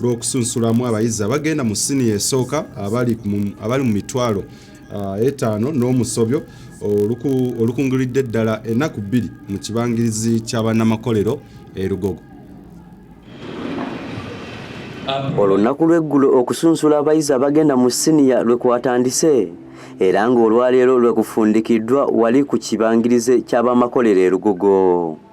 lw'okusunsulamu abayizi abagenda mu siniya esooka abali mu mitwalo ah, etaano n'omusobyo olukunguridde ddala ennaku bbiri mu kibangirizi ky'abannamakolero e Lugogo. Olunaku lw'eggulo okusunsula abayizi abagenda mu siniya lwe kwatandise era ng'olwaleero lwe kufundikiddwa wali ku kibangirize ky'abamakolero e Lugogo.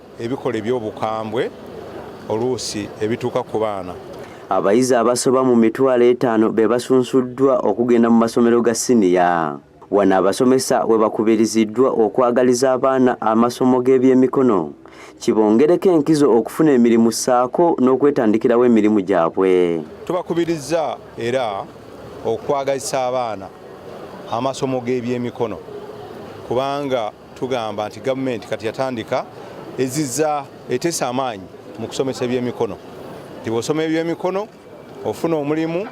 ebikolwa eby'obukambwe oluusi ebituuka ku baana. Abayizi abasoba mu mitwalo etaano be basunsuddwa okugenda mu masomero ga siniya. Wano abasomesa we bakubiriziddwa okwagaliza abaana amasomo g'ebyemikono kibongereko enkizo okufuna emirimu ssaako n'okwetandikirawo emirimu gyabwe. Tubakubirizza era okwagazisa abaana amasomo g'ebyemikono kubanga Tugamba nti gavumenti kati yatandika ezizza eteesa amaanyi mu kusomesa ebyemikono nti bw'osoma ebyemikono ofuna omulimu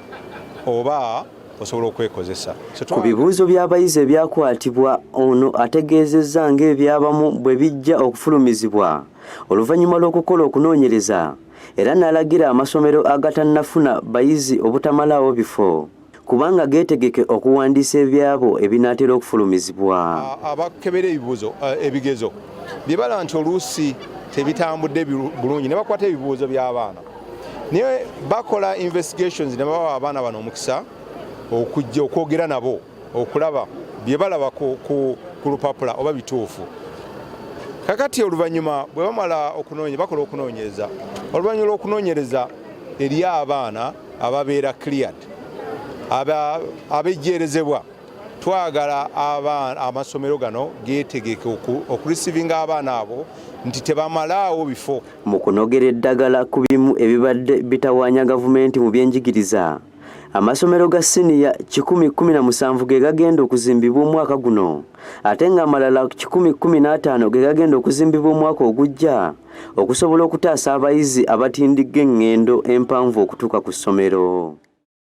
oba osobola okwekozesa. Ku bibuuzo by'abayizi ebyakwatibwa, ono ategeezezza ng'ebyabamu bwe bijja okufulumizibwa oluvannyuma lw'okukola okunoonyereza era n'alagira amasomero agatannafuna bayizi obutamalaawo bifo. kubanga geetegeke okuwandiisa ebyabo ebinaatera okufulumizibwa. Abakebera ebibuuzo eh, ebigezo bye bala nti oluusi tebitambudde bulungi ne bakwata ebibuuzo by'abaana naye bakola investigations ne bawa abaana bano omukisa okujja okwogera nabo okulaba bye balaba ku lupapula oba bituufu kakati oluvannyuma bwe bamala okunoonya bakola okunoonyereza oluvannyuma lw'okunoonyereza eri abaana ababeera cleared abejjeerezebwa twagala amasomero gano geetegeke okurisivinga abaana abo nti tebamalaawo bifo mu kunogera eddagala ku bimu ebibadde bitawaanya gavumenti mu byenjigiriza amasomero ga siniya 117 ge gagenda okuzimbibwa omwaka guno ate ng'amalala 115 ge gagenda okuzimbibwa omwaka ogujja okusobola okutaasa abayizi abatindigga engendo empanvu okutuuka ku ssomero.